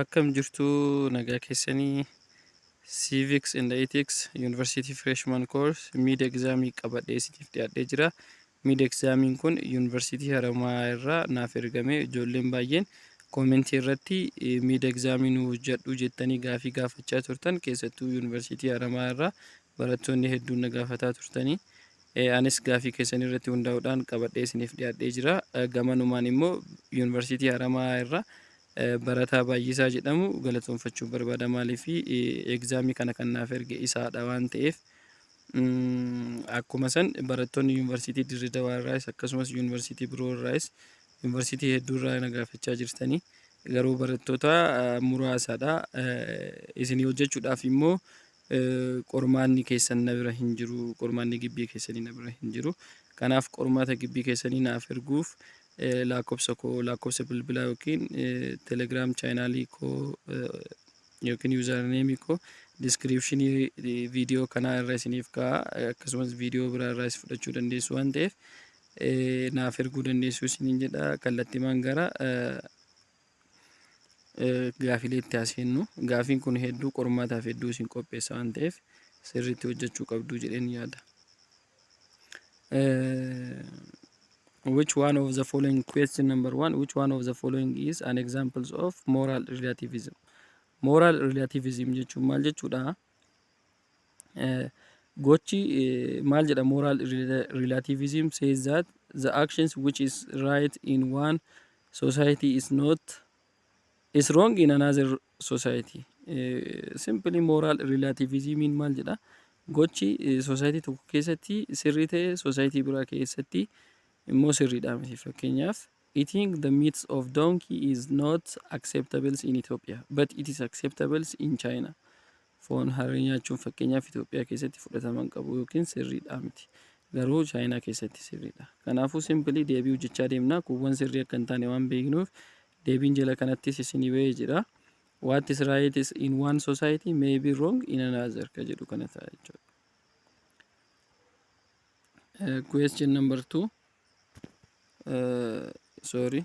Akkam jirtuu nagaa keessanii Civics and Ethics University Freshman Course Mid Exam qabadhee isiniif dhiyaadhee jira. Mid Examiin kun University Haramaa irraa naaf ergame ijoolleen baay'een koomentii irratti Mid Examii nu hojjedhu jettanii gaafii gaafachaa turtan keessattuu University Haramaa irraa barattoonni hedduun na gaafataa turtanii. e anis gaafii keessan irratti hundaa'uudhaan qabadhee isiniif dhiyaadhee jira. Gamanumaan immoo Yuunivarsiitii Haramaayaa irraa barataa Baay'isaa jedhamu galatoomfachuun barbaada. Maaliif egzaamii kana kan naaf erge isaadha waan ta'eef akkuma san barattoonni Yuunivarsiitii Dirree Dawaa irraayis akkasumas Yuunivarsiitii biroo irraayis Yuunivarsiitii hedduu irraa na gaafachaa jirtanii garuu barattoota muraasaadha. Isinii hojjechuudhaaf immoo Qormaanni keessan na bira hin jiru, qormaanni gibbii keessanii na bira hin jiru. Kanaaf qormaata gibbii keessanii naaf erguuf laakkofsa koo, laakkofsa bilbilaa yookiin telegram chaanaalii koo yookiin yuuzarneemii koo diskiriipshinii viidiyoo kanaa irra isiniif ka'a akkasumas viidiyoo biraa irraas fudhachuu dandeessu waan ta'eef naaf erguu dandeessu isiniin jedha kallattimaan gara gaafilee itti haasofnu gaafiin kun hedduu qormaataaf hedduu isin qopheessa waan ta'eef sirriitti hojjechuu qabdu jedheen yaada. Which one of the following question number one which one of the following is an examples of moral relativism moral relativism jechuun maal jechuudha? Gochi maal jedha moral relativism says that the actions which is right in one society is not is wrong in another society. Simply moral relativism maal jedha gochi society tokko keessatti sirrii ta'e society biraa keessatti immoo sirriidha miti fakkeenyaaf eating the meats of donkey is not acceptable in Ethiopia but it is acceptable in China. Foon harree nyaachuun fakkeenyaaf Itoophiyaa keessatti fudhatama hin qabu yookiin sirriidhaa miti. Garuu Chaayinaa keessatti sirriidha. Kanaafuu simply deebii hojjechaa deemna. Kuuwwan sirrii akka hin taane waan beeknuuf deebiin jala kanattis isinii bahee jira. What is right is in one society may be wrong in another ka jedhu kana ta'a jechuudha. Uh, question number two. Uh, sorry.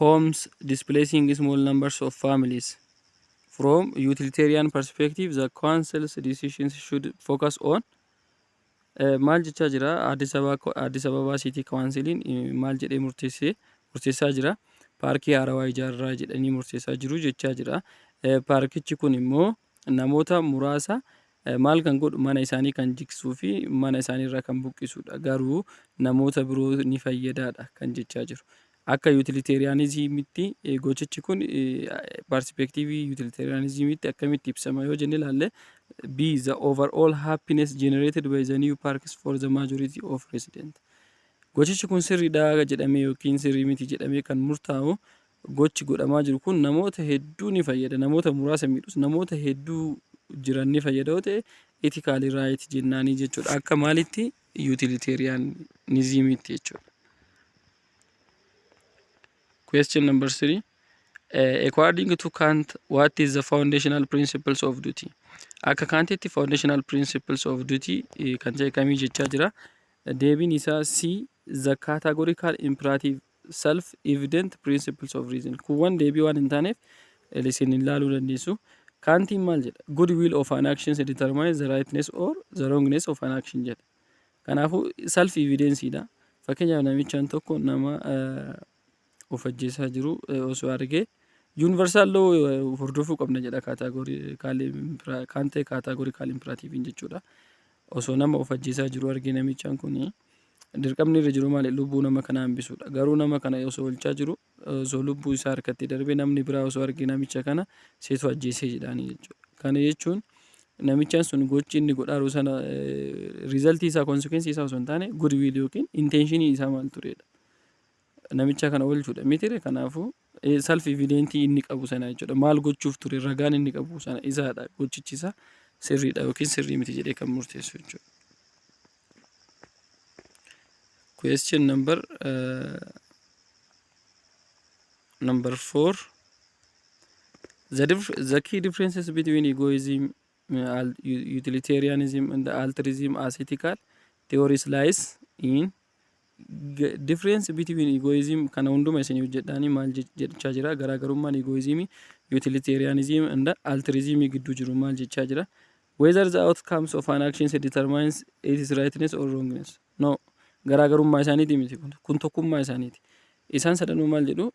homes displacing small numbers of families. From utilitarian perspective, the council's decisions should focus on Eh, maal jechaa jira Addis Ababa- Addis Ababa City Councilin eh, maal jedhee murteessee murteessaa jira paarkii haarawaa ijaarraa jedhanii murteessaa jiru jechaa jira Eh, paarkichi kun immoo namoota muraasa maal kan godhu mana isaanii kan jigsuu fi mana isaanii irraa kan buqqisuudha garuu namoota biroo ni fayyadaadha kan jechaa jiru. Akka yutiliteeriyaanizimitti gochichi kun parsipeektiivii yutiliteeriyaanizimitti akkamitti ibsama yoo jenne ilaalle B the overall happiness generated by the new parks for the majority of resident. Gochichi kun sirriidha jedhamee yookiin sirrii miti jedhamee kan murtaa'u Gochi godhamaa jiru kun namoota hedduu ni fayyada, namoota muraasa miidhus namoota hedduu jiran ni fayyada yoo ta'e ethically right jennaanii jechuudha. Akka maalitti utilitarianismiitti jechuudha. Question number three. Uh, according to Kant, what is the foundational principles of duty? Akka Kantitti foundational principles of duty eh, kan ta'e kamii jechaa jira. Deebiin isaa C the categorical imperative self evident principles of reason. Kuuwwan deebii waan hin taaneef isin ilaaluu dandeessu. Kaantiin maal jedha? Good will of an action determines the rightness or the wrongness of an action jedha. Kanaafuu self evidence dha. Fakkeenyaaf namichaan tokko nama of ajjeesaa jiru osoo argee universal law hordofuu qabna jedha kaatee kaataagorikaal impiraatiiviin jechuudha. osoo nama of ajjeesaa jiruu argee namichaan kun dirqamni irra jiru maali lubbuu nama kana hambisuudha garuu nama kana osoo olchaa jiru osoo lubbuu isaa harkatti darbee namni biraa osoo argee namicha kana seetu ajjeesee jedhaanii jechuudha kana jechuun namichaan sun gochi inni godhaaru sana riizaltii isaa konsekensii isaa osoo hin taane gudwiil yookiin intenshinii isaa maal tureedha namicha kana oolchuudha mitire kanaafuu Self evident inni qabu sana jechuudha. Maal gochuuf ture ragaan inni qabu sana isaadha gochichi isaa sirriidha yookiin sirrii miti jedhee kan murteessu jechuudha. Question number uh, number four. The, dif the key differences between egoism, uh, utilitarianism, and altruism as ethical theories lies in Difference between egoism kana hunduma isin hojjedhaanii maal jechaa jira garaagarummaan egoism utilitarianism and altruism gidduu jiru maal jechaa jira whether the outcomes of an action determines its rightness or wrongness no garaagarummaa isaaniiti miti kun kun tokkummaa isaaniiti isaan sadanuu maal jedhu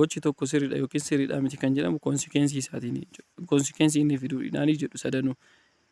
gochi tokko sirriidha yookiin sirriidha miti kan jedhamu konsekensii isaatiin konsekensii inni fiduudhaanii jedhu sadanuu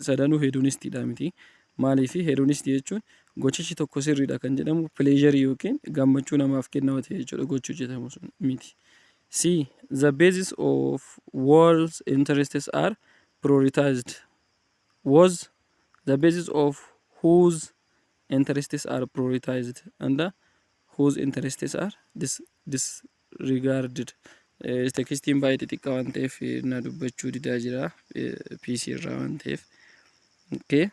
sadanuu hedonistic dha miti. Maaliif? Hedonistic jechuun gochichi tokko sirriidha kan jedhamu pleasure yookiin gammachuu namaaf kenna yoo ta'e jechuudha gochi hojjetamu sun miti. C. The basis of world's interests are prioritized was the basis of whose interests are prioritized and whose interests are dis, dis, regarded Tekstiin baay'ee xixiqqaa waan ta'eef na dubbachuu didaa jira PC irraa waan ta'eef. Okay.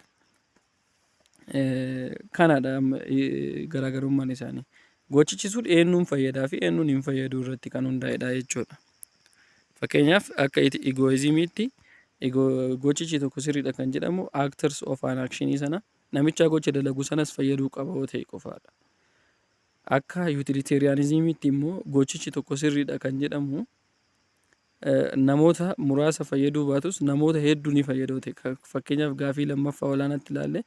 Kanadha garaagarummaan isaanii. Gochichi sun eenyuun fayyadaa fi eenyuun hin fayyaduu irratti kan hundaa'edha jechuudha. Fakkeenyaaf akka egoizimiitti gochichi tokko sirriidha kan jedhamu actors of an action sana namichaa gocha dalagu sanas fayyaduu qaba yoo ta'e qofaadha. Akka Yutiliteeriyaanizimiitti immoo gochichi tokko sirriidha kan jedhamu namoota muraasa fayyaduu baatus namoota hedduu ni fayyada ta'e. Fakkeenyaaf gaafii lammaffaa olaanaatti ilaalle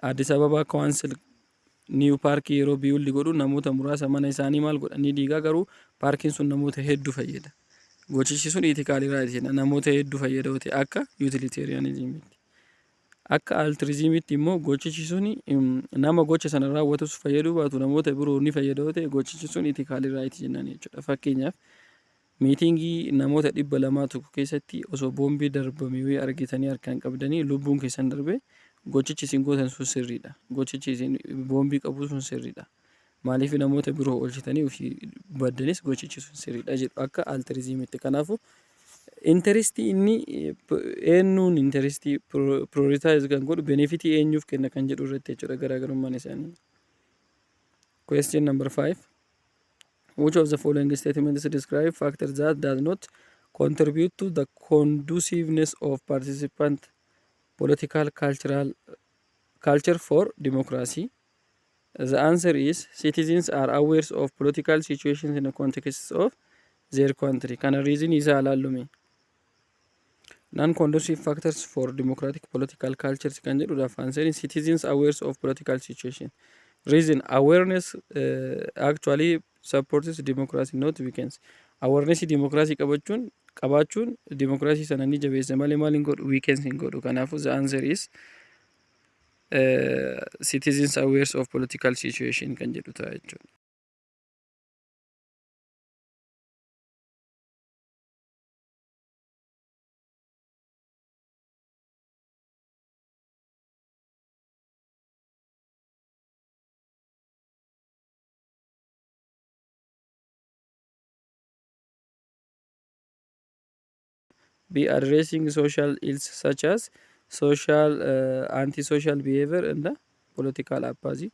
Addis Ababaa Kawaansel niiw paarkii yeroo biyuldi godhu namoota muraasa mana isaanii maal godha ni diigaa garuu paarkiin sun namoota hedduu fayyada. Gochichi sun iitikaaliraa jenna namoota hedduu fayyada ta'e akka Yutiliteeriyaanizimiitti. Akka altiriziimiitti immoo gochichi suni nama gocha sana raawwatus fayyaduu baatu namoota biroo ni fayyada yoo ta'e gochichi sun itikaalii raayiti jennaan jechuudha. Fakkeenyaaf miitingii namoota dhibba lamaa tokko keessatti osoo boombii darbame wayii argitanii harkaan qabdanii lubbuun keessan darbe gochichi isin gootan sun sirriidha. Gochichi isin boombii qabu sun sirriidha. Maaliif namoota biroo oolchitanii ofii baddanis gochichi sun sirriidha jedhu akka altiriziimitti. Kanaafuu intarestii inni eenyuun intarestii prioritize kan godhu benefitii eenyuuf kenna kan jedhu irratti jechuudha garaagarummaan isaanii. Question number five. Which of the following statements describe factor that does not contribute to the conduciveness of participant political cultural culture for democracy? The answer is citizens are aware of political situations in the context of their country. Kana reason isa alaallume. Non-conducive factors for democratic political cultures kan jedhudhaaf answer is citizens aware of political situation. Reason awareness uh, actually supports democracy not weakens. Awareness democracy qabachuun qabaachuun democracy sana ni jabeessa malee maal hin godhu weakens hin godhu. Kanaafuu the answer is citizens awares of political situation kan jedhu ta'a jechuudha. Be addressing social ills such as social uh, antisocial behavior and the political apathy.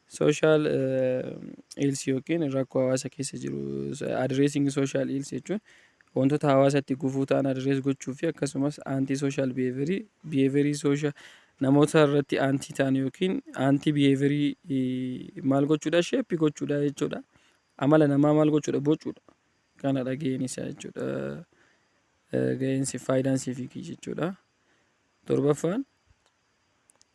Social uh, ills yookiin rakkoo hawaasa keessa jiru addressing social ills jechuun wantoota hawaasatti gufuu ta'an address gochuu fi akkasumas anti social behavior behavior social namoota irratti anti ta'an yookiin anti behavior maal gochuudha shape gochuudha jechuudha. Amala namaa maal gochuudha bocuudha. kanadha ga'een isaa jechuudha. Ga'een siif faayidaan siif hiiki jechuudha. Torbaffaan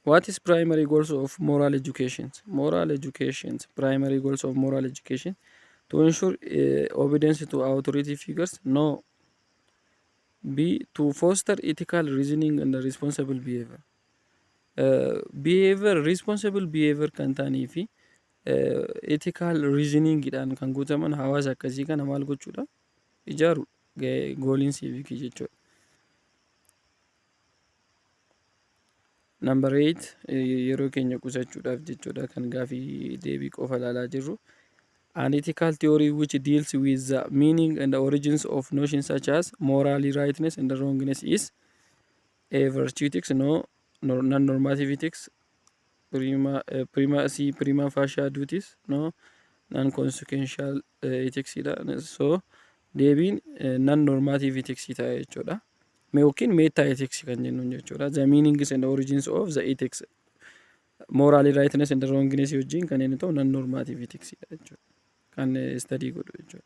What is primary goals of moral education? Moral education, primary goals of moral education to ensure uh, obedience to authority figures, no. B to foster ethical reasoning and responsible behavior. Uh, behavior responsible behavior kan ta'anii fi Ethical reasoning dhaan kan guutaman hawaasa akkasii kana maal gochuudha? Ijaaru gahee gooliin siivikii jechuudha. Number 8 yeroo keenya qusachuudhaaf jechuudha kan gaafii deebii qofa ilaalaa jirru. An ethical theory which deals with the meaning and the origins of notions such as morally rightness and wrongness is A. Virtuitics No. Non-normativitics Prima, eh, prima, si, prima facia duties No. Non-consequential eh, itics dha So deebiin eh, non-normativitics ta'a jechuudha Me yookiin meta ethics kan jennuun jechuudha The meanings and origins of the ethics Morally rightness and wrongness wajjin kan inni ta'u non-normativitics dha jechuudha Kan eh, study godhu jechuudha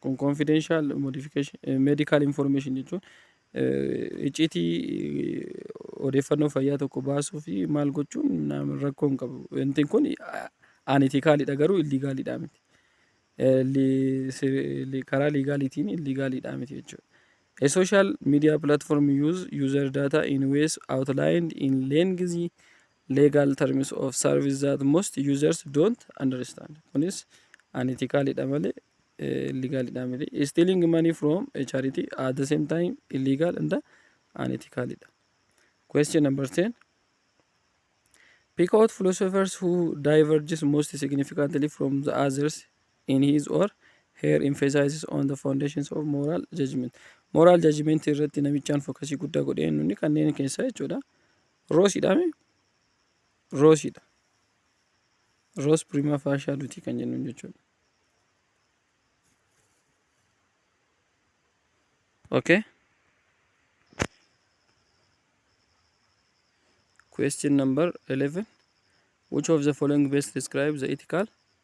Kun confidential modification eh, medical information jechuun eh, icciitii eh, odeeffannoo fayyaa tokko baasuu fi maal gochuun nam- rakkoo hin qabu. Wanti kun anitikaaliidha garuu illigaaliidha miti. Eh, li- si- li- Karaa liigaaliitiin illigaaliidha miti jechuudha. A social media platform use user data in ways outlined in lengthy legal terms of service that most users don't understand kunis unethical dha malee illegal dha miti stealing money from a charity at the same time illegal and unethical dha question number 10 pick out philosophers who diverges most significantly from the others in his or her emphasizes on the foundations of moral judgment moral judgment irratti namichaan fokasii guddaa godhee nuni kanneen keessaa jechuudha Roosi dha mee? Roosi dha. Roos prima faashaa dutii kan jennuun jechuudha. Okay. Question number 11. Which of the following best describe the ethical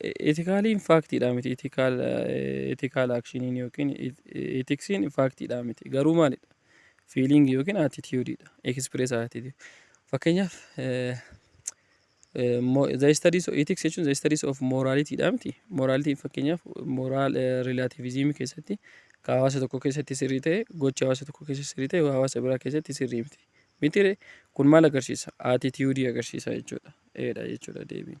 Itikaaliin faaktiidhaa miti, itikaal, ethical action, yookiin itiksiin faaktiidhaa miti. Garuu maalidha? Feeling yookiin attitude dha. Express attitude. Fakkeenyaaf, the studies of ethics jechuun the studies of morality dha miti. Morality fakkeenyaaf moral relativism keessatti ka hawaasa tokko keessatti sirrii ta'e gocha hawaasa tokko keessatti sirrii ta'e hawaasa biraa keessatti sirrii miti. Miti kun maal agarsiisa? Attitude agarsiisa jechuudha. Eedha jechuudha deebiin.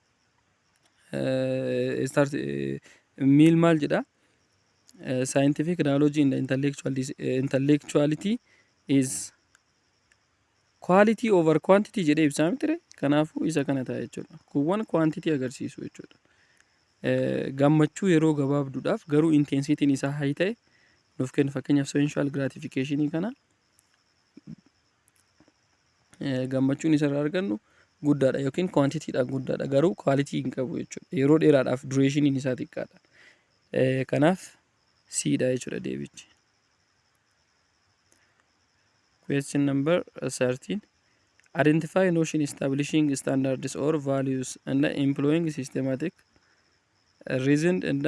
start miil maal jedha scientific knowledge in the intellectual dis- eh, intellectuality is quality over quantity jedhee ibsaa mitire kanaafuu isa kana ta'a jechuudha kuuwwan quantity agarsiisu jechuudha Eh, gammachuu yeroo gabaabduudhaaf garuu intensitiin isaa hay ta'e nuuf kennu fakkeenyaaf sensual gratification kana gammachuun isarraa argannu guddaadha yookiin kwaantitiidhaan guddaadha garuu kwaalitii hin qabu jechuudha. Yeroo dheeraadhaaf dureeshiniin isaa xiqqaadha. Kanaaf siidha jechuudha deebichi. Question number 13. Identify notion establishing standards or values and employing systematic reasoned and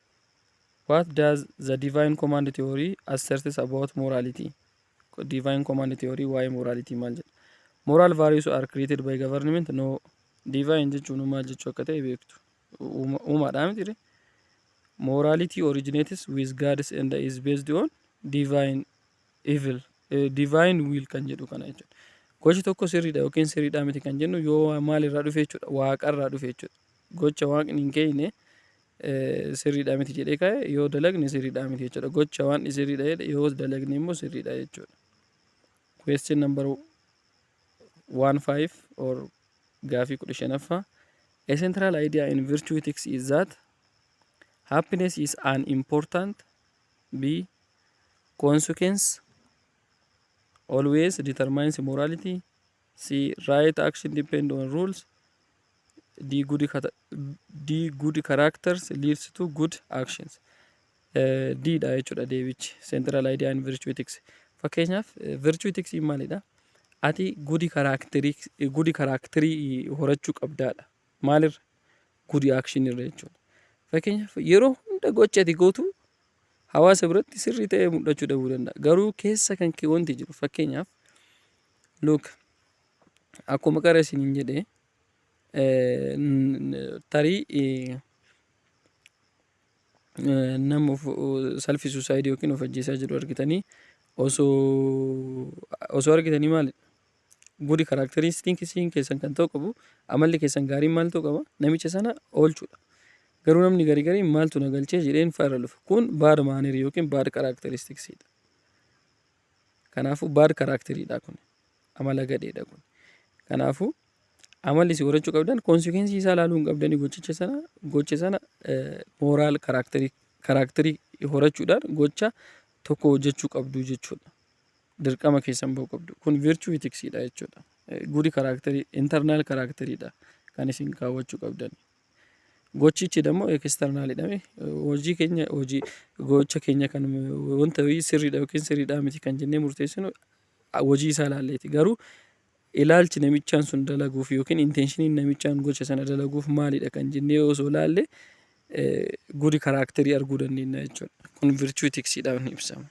What does the divine command theory asserts about morality? Divine command theory waa'ee morality maal jedha? Moral values are created by government? No. Divine jechuun maal jechuu akka ta'e beektu. Uuma- Uumaadhaa miti. Morality originates with gods and is based on divine evil. Eh, divine will kan jedhu kana jechuudha. Gochi tokko sirriidha yookiin sirriidhaa miti kan jennu yoo waa- maalirraa dhufe jechuudha. Waaqarraa dhufe jechuudha. Gocha waaqni hin keeyne sirriidha miti jedhee ka'e yoo dalagne sirriidha miti jechuudha. Gocha waan sirriidha jedhe yoo dalagne immoo sirriidha jechuudha. Question number 15 or gaafii 15ffaa A central idea in virtue ethics is that happiness is an important B consequence always determines morality C. Right action depend on rules. D. Good, cata- D. Good characters leads to good actions. Eh, D dha jechuudha deebichi. Central idea in virtue ethics. Fakkeenyaaf eh, virtue ethics maalidha? Ati good character good character horachuu qabdaadha. Maalirra? Good action irra jechuudha. Fakkeenyaaf yeroo hunda gocha ati gootu hawaasa biratti sirrii ta'ee mul'achuu dhabuu danda'a. Garuu keessa kan kee wanti jiru fakkeenyaaf Look, akkuma qara isiniin jedhe eh, n- tarii eh, eh, nama of self suicide yookiin of ajjeesaa jiru argitanii osoo osoo argitanii maali good characteristic isiin keessan kan ta'u qabu amalli keessan gaariin maal ta'u qaba namicha sana oolchuudha garuu namni garii garii maaltu na galchee jedheen faara dhufa kun baad maanerii yookiin baad characteristics dha Kanaafuu bad character dha kun. Amala gadhee dha kun. Kanaafuu amalli isin horachuu qabdan consequence isaa ilaaluu hin qabdanii gochicha sana gocha sana moral character character horachuudhaan gocha tokko hojjechuu qabdu jechuudha. Dirqama keessan ba'uu qabdu. Kun virtue ethics dha jechuudha. Good character internal character dha kan isin kaawwachuu qabdan. Gochichi dammoo ekisternaalidha. Hojii keenya hojii gocha keenya kan wanta wayii sirriidha yookiin sirriidhaa miti kan jennee murteessinu hojii isaa ilaalleeti. Garuu ilaalchi namichaan sun dalaguuf yookiin inteenshiniin namichaan gocha sana dalaguuf maalidha kan jennee osoo ilaalle gudi karaakterii arguu dandeenya jechuudha. Kun virchuu itiksiidhaan ibsama.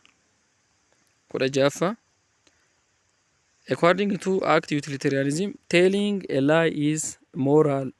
Kudha ja'affaa. According to act utilitarianism, telling a lie is moral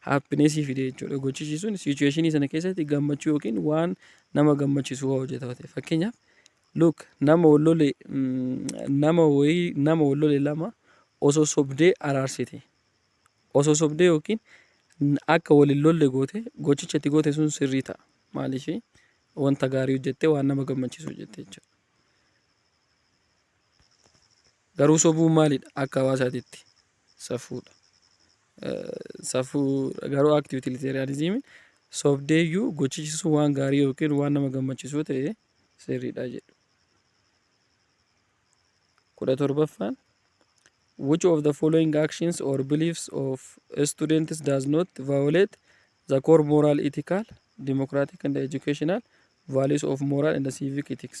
happiness fide jechuudha. Gochichi sun situation sana keessatti gammachuu yookiin waan nama gammachisu waa hojjeta ta'e. Fakkeenyaaf look nama wallole nama wayii nama wallole lama osoo sobdee araarsite. Osoo sobdee yookiin akka waliin lolle goote gochicha itti goote sun sirrii ta'a. Maaliif wanta gaarii hojjette waan nama gammachisu hojjette jechuudha. Garuu sobuun maalidha akka hawaasaatitti? safuudha. Safuu garuu act utilitarianism sobdeeyyuu gochichi sun waan gaarii yookiin waan nama gammachisuu ta'e sirriidha jedhu. kudha torbaffaan which of the following actions or beliefs of students does not violate the core moral ethical democratic and educational values of moral and civic ethics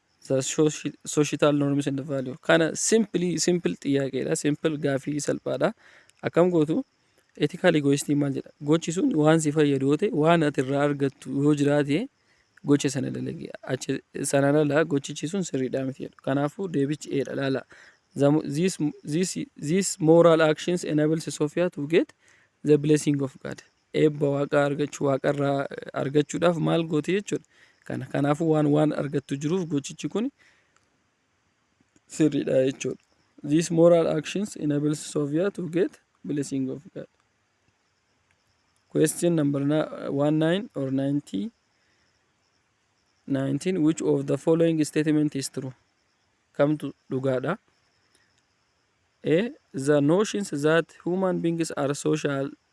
the soci- societal norms and value kana simply simple xiyyaaqeedha simple gaafii salphaadha akkam gootu ethical egoistii maal jedha gochi sun waan si fayyadu yoo ta'e waan ati irraa argattu yoo jiraate gocha sana dalagi achi sanaan ala gochichi sun sirriidhaa miti jedhu kanaafuu deebichi eedha laala The mo- these, these, these moral actions enables Sophia to get the blessing of God Eebba Waaqaa argachuu, Waaqa irraa argachuudhaaf maal gooti jechuudha. Kana kanaafuu waan waan argattu jiruuf gochichi kun sirriidha jechuudha. These moral actions enables Sophia to get blessing of God. Question number 19 or 90 19 which of the following statement is true? Kamtu dhugaadha? A. The notions that human beings are social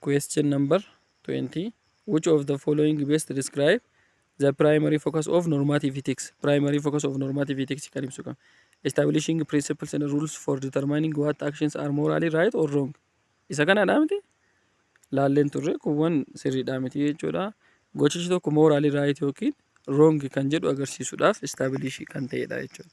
Question number 20. Which of the following best describe the primary focus of normative ethics? Primary focus of normative ethics kan ibsu kan. Establishing principles and rules for determining what actions are morally right or wrong. Isa kanadha miti? Laalleen turre kuuwwan sirriidha miti jechuudha. Gochichi tokko morally right yookiin wrong kan jedhu agarsiisuudhaaf establish kan ta'edha jechuudha.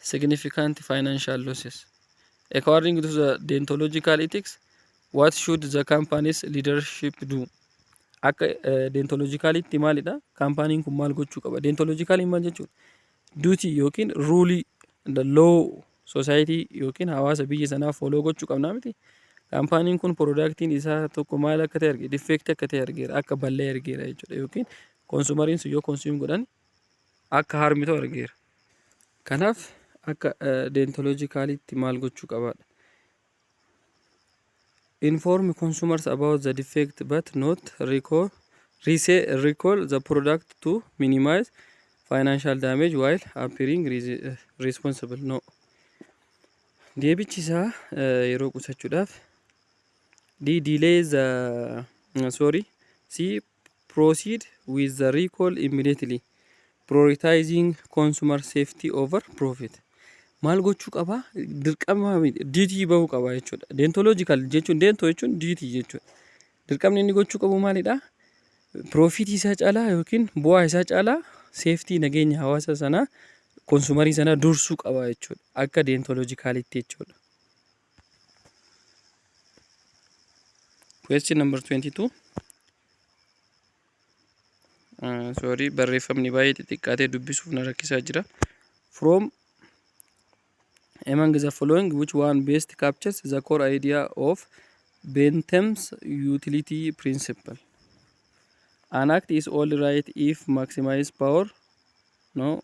significant financial losses. According to the deontological ethics, what should the company's leadership do? Akka deontologicalitti maalidha? Kaampaaniin kun maal gochuu qaba? Deontologicaliin maal jechuudha? Duty yookiin ruulii the law society yookiin hawaasa biyya sanaa follow gochuu qabnaa miti. Kaampaaniin kun piroodaaktiin isaa tokko maal akka ta'e arge, difeektii akka ta'e argeera, akka ballee argeera jechuudha yookiin konsuumariin sun yoo konsuum godhani akka harmitu argeera. Kanaaf akka deentoloojikaaliitti maal gochuu qabaadha? Inform consumers about the defect but not recall, resell, recall the product to minimize financial damage while appearing responsible. No. Deebichi isaa yeroo qusachuudhaaf D delay the sorry C Proceed with the recall immediately, prioritizing consumer safety over profit. Maal gochuu qaba? Dirqama duty bahuu qaba jechuudha. Deontological jechuun deento jechuun duty jechuudha. Dirqamni inni gochuu qabu maalidha? Piroofitii isaa caalaa yookiin bu'aa isaa caalaa seeftii nageenya hawaasa sanaa konsumarii sanaa dursuu qaba jechuudha. Akka deentolojikaalitti jechuudha. Question number 22. Uh, sorry, barreeffamni baay'ee xixiqqaatee dubbisuuf na rakkisaa jira. From among the following which one best captures the core idea of Bentham's utility principle? An act is only right if maximize power. No.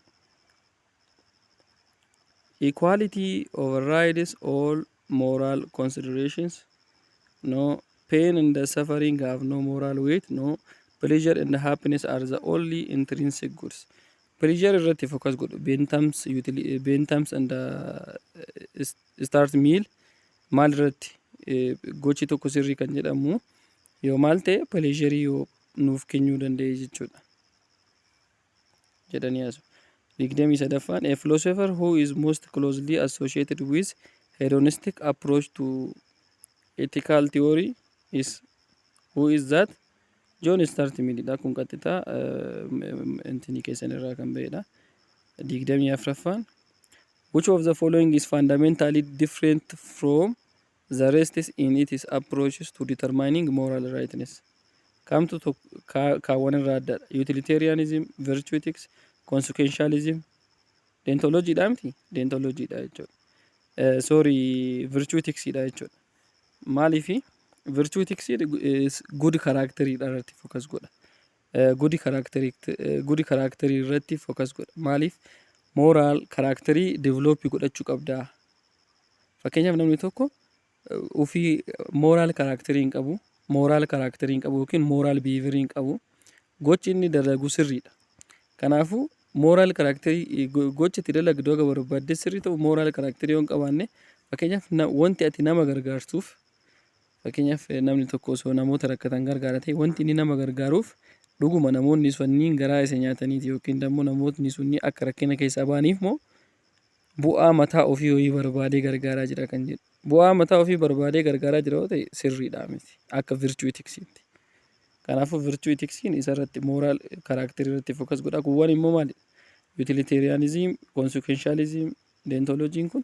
Equality overrides all moral considerations. No pain and suffering have no moral weight. No pleasure and happiness are the only intrinsic goods. Pleasure irratti focus godhu. Bentams, utili- eh, bentams and uh, is- start meal maal irratti eh, gochi tokko sirrii kan jedhamu yoo maal ta'e pleasure yoo nuuf kennuu danda'e jechuudha. jedhanii haasu. 23ffaan A philosopher who is most closely associated with hedonistic approach to ethical theory is who is that? John Stuart Mill dha. Kun qaxxitaa intinii keessan irraa kan ba'edha. 24ffaan Which of the following is fundamentally different from The rests in its approaches to determining moral rightness. Kamtu tok- kaa- kaawwan irraa addadha? Utilitarianism, virtue ethics, consequentialism. Deontology dha miti? Deontology dha jechuudha. Eh, sorry, virtue ethics dha jechuudha. Maaliifi? Virtue ethics is good character dha irratti focus godha. Good characterict good character irratti focus godha maaliif moral character develop godhachuu qabda fakkeenyaaf namni tokko ofii moral character hin qabu moral character hin qabu yookiin moral behavior hin qabu gochi inni dalagu sirriidha kanaafuu moral character gochi itti dalagdu akka barbaadde sirrii ta'u moral character yoo hin qabaanne fakkeenyaaf wanti ati nama gargaartuuf Fakkeenyaaf namni tokko osoo namoota rakkatan gargaara ta'e wanti inni nama gargaaruuf dhuguma namoonni sunniin garaa isa nyaataniiti yookiin immoo namootni sunni akka rakkina keessaa ba'aniif moo bu'aa mataa ofii horii barbaadee gargaaraa jira kan jedhu. Bu'aa mataa ofii barbaadee gargaaraa jira yoo ta'e sirriidhaa miti akka virchuu itiksiitti. Kanaafuu virchuu itiksiin isarratti mooraal karaakterii irratti fokas godha. Kuuwwan immoo maali? Yutiliteeriyaanizim, konsekenshaalizim, deentolojiin kun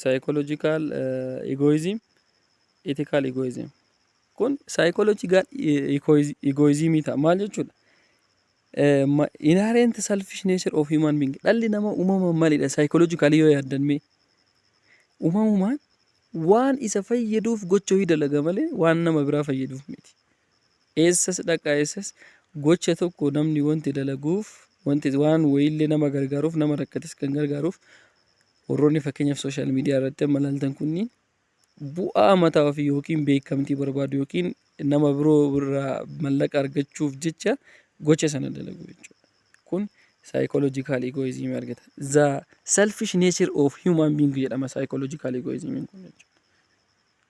Psychological egoism, ethical egoism. Kun psychological egoism ta'a. Maal jechuudha? Inherent selfish nature of human being. Dhalli nama uumamaan maalidha? Psychologically yoo yaaddan mee? Uumamumaan waan isa fayyaduuf gocha hojii dalaga malee waan nama biraa fayyaduuf miti. Eessas dhaqaa eessas gocha tokko namni wanti dalaguuf wanti waan wayiillee nama gargaaruuf nama rakkates kan gargaaruuf warroonni fakkeenyaaf sooshaal miidiyaa irratti amma ilaaltan kunniin bu'aa mataa ofii yookiin beekamtii barbaadu yookiin nama biroo irraa mallaqa argachuuf jecha gocha sana dalagu jechuudha. Kun psychological egoism argata. The selfish nature of human being jedhama psychological egoism kun jechuudha.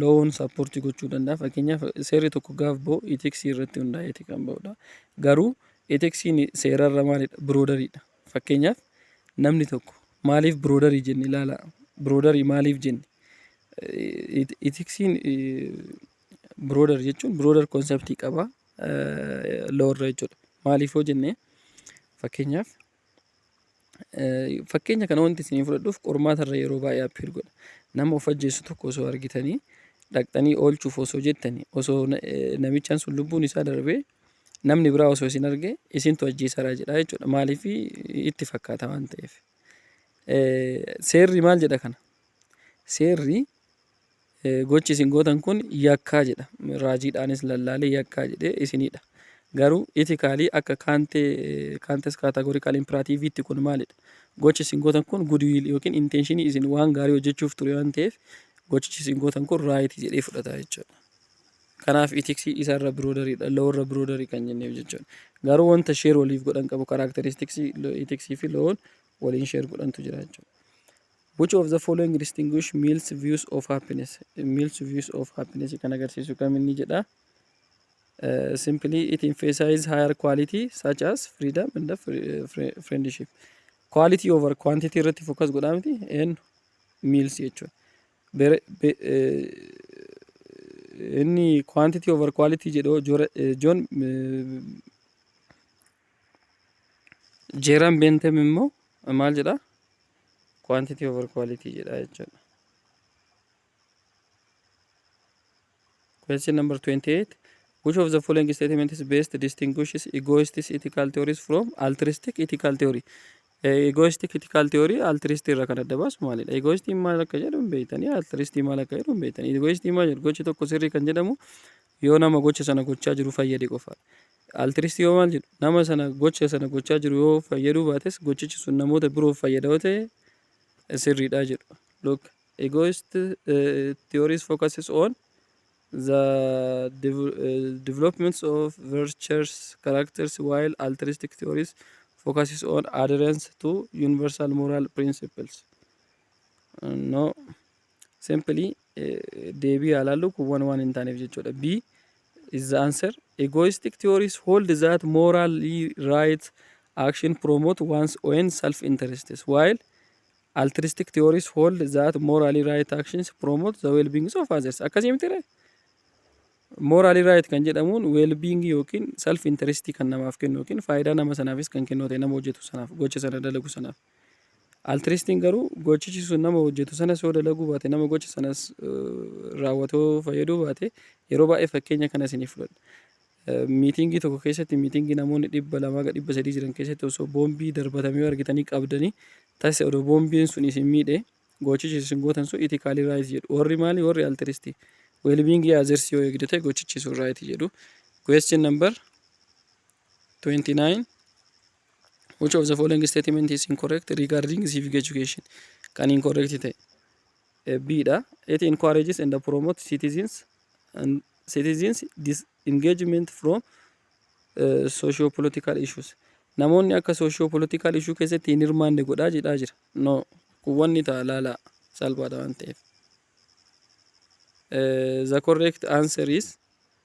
loon sappoortii gochuu danda'a. Fakkeenyaaf seerri tokko gaaf ba'u eteksii irratti hundaa'eeti kan ba'udha. Garuu eteksiin seerarra maalidha? Biroodariidha. Fakkeenyaaf namni tokko maaliif biroodarii jenne ilaala. Biroodarii maaliif jenne? Eteksiin biroodar jechuun biroodar konseptii qaba loorra jechuudha. Maaliif yoo jenne fakkeenyaaf Fakkeenya kana wanti isinii fudhadhuuf qormaata irra yeroo baay'ee appeer godha. Nama of ajjeesu tokko osoo argitanii dhaqxanii oolchuuf osoo jettanii osoo namichaan sun lubbuun isaa darbee namni biraa osoo isin arge isintu ajjeesaraa jedha jechuudha. Maaliif itti fakkaata waan ta'eef. Seerri maal jedha kana? Seerri Gochi isin gootan kun yakkaa jedha. Raajiidhaanis lallaalee yakkaa jedhee isinidha. Garuu itikaalii akka kaantee kaantes kaataagorikaal impiraatiiviitti kun maalidha? Gochi isin gootan kun gudiwiil yookiin intenshinii isin waan gaarii hojjechuuf ture waan ta'eef gochichi isin gootan kun raayiti jedhee fudhata jechuudha. Kanaaf itiksii isa irra biroodariidha, lowoo irra biroodarii kan jenneef jechuudha. Garuu wanta sheer waliif godhan qabu karaakteristiksii itiksii fi lowoon waliin sheer godhantu jira jechuudha. Which of the following distinguish males views of happiness? Males views of happiness kan agarsiisu kam inni jedha. Uh, simply it emphasizes higher quality such as freedom and the fri- eh, fri- friendship. Quality over quantity irratti focus godhaa miti and meals jechuudha. Bere- be- eh, inni quantity over quality jedhu Jor- eh, John eh, Jeeran Beentem immoo maal jedha? quantity over quality jedha jechuudha. Question number 28. Which of the following statement is best distinguishes egoistic ethical theories from altruistic ethical theory? Eh, Egoistic ethical theory altruistic irraa kan adda baasu maalidha? Egoistic maal akka jedhu hin beektanii, altruistic maal akka jedhu hin beektanii. Egoistic maal jedhu gochi tokko sirrii kan jedhamu yoo nama gocha sana gochaa jiru fayyade qofa dha. Altiriistii hoo maal jedhu? Nama sana gocha sana gochaa jiru yoo fayyaduu baates gochichi sun namoota biroof fayyada yoo ta'e sirrii dha jedhu. Look, egoist theories focuses on the developments of virtuous characters while altruistic theories focuses on adherence to universal moral principles. No. Simply deebii haa laallu kun waan waan hin taaneef jechuudha. B is the answer. Egoistic theories hold that morally right action promote one's own self interests while altruistic theories hold that morally right actions promote the well-being of others. Akkasii miti ree? Morally right kan jedhamuun well-being yookiin self interest kan namaaf kennu yookiin faayidaa nama sanaafis kan kennu ta'e nama hojjetu sanaaf gocha sana dalagu sanaaf. Altiriistiin garuu gochichi sun nama hojjetu sanas yoo dalaguu baate, nama gocha sanas raawwatu yoo fayyaduu baate, yeroo baay'ee fakkeenya kana isiniif fudhadha. Miitingii tokko keessatti miitingii namoonni dhibba lamaa ga dhibba sadii jiran keessatti osoo boombii darbatame yoo argitanii qabdanii tasa odoo boombiin sun isin miidhe gochichi isin gootan sun itikaalii raayiti jedhu. Warri maali? Warri altiriistii. Weelbiingii azersii yoo eegdu ta'e gochichi sun raayiti jedhu. Question number 29 Which of the following statement is incorrect regarding civic education? Kan incorrect ta'e. Eh, B dha. It encourages and promotes citizens and citizens disengagement from uh, socio-political issues. Namoonni akka socio-political issue keessatti hin hirmaanne godhaa jedhaa jira. No, kun wanni ta'a laalaa salphaadha waan ta'eef. Eh, the correct answer is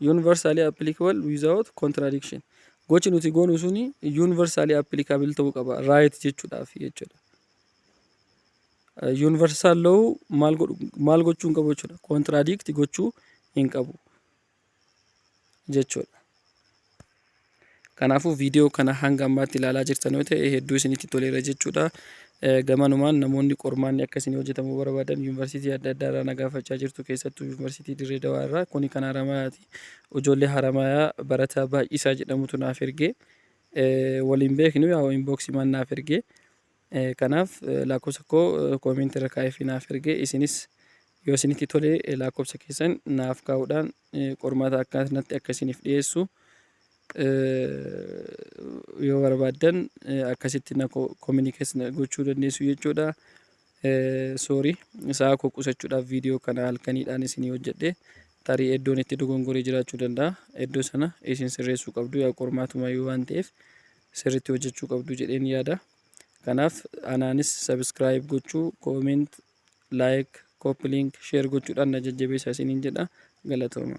Universally applicable without contradiction. Gochi nuti goonu suni universally applicable ta'uu qaba. Right jechuudhaaf jechuudha. Universal law maal godhu maal gochuu hin qabu jechuudha. Contradict gochuu hin qabu jechuudha. Kanaafuu viidiyoo kana hanga ammaatti ilaalaa jirtan yoo ta'e hedduu isinitti toleera jechuudha. Gamanumaan namoonni qormaanni akka isin hojjetamu barbaadan yuunivarsiitii adda addaa irraa nagaafachaa jirtu keessattuu yuunivarsiitii Dirree Dawaa irraa kuni kan Haramayaati. Ijoollee Haramayaa barataa baay'isaa jedhamutu naaf ergee waliin beeknu yaa inboksimaan naaf ergee Kanaaf laakkofsa koo comment irra kaa'eefi naaf erge isinis yoo isinitti tole laakkofsa keessan naaf kaa'uudhaan qormaata akkanatti akka isiniif dhiyeessu yoo barbaaddan akkasitti na communicate na gochuu dandeessu jechuudha. Sorry sa'a koo qusachuudhaaf viidiyoo kana halkaniidhaan isinii hojjedhe tarii iddoon itti dogongoree jiraachuu danda'a. Iddoo sana isin sirreessuu qabdu yaa qormaatumayyuu waan ta'eef sirritti hojjechuu qabdu jedheen yaada. Kanaaf anaanis subscribe gochuu, comment, like, copy link, share gochuudhaan na jajjabeessaa isiniin jedha. Galatooma.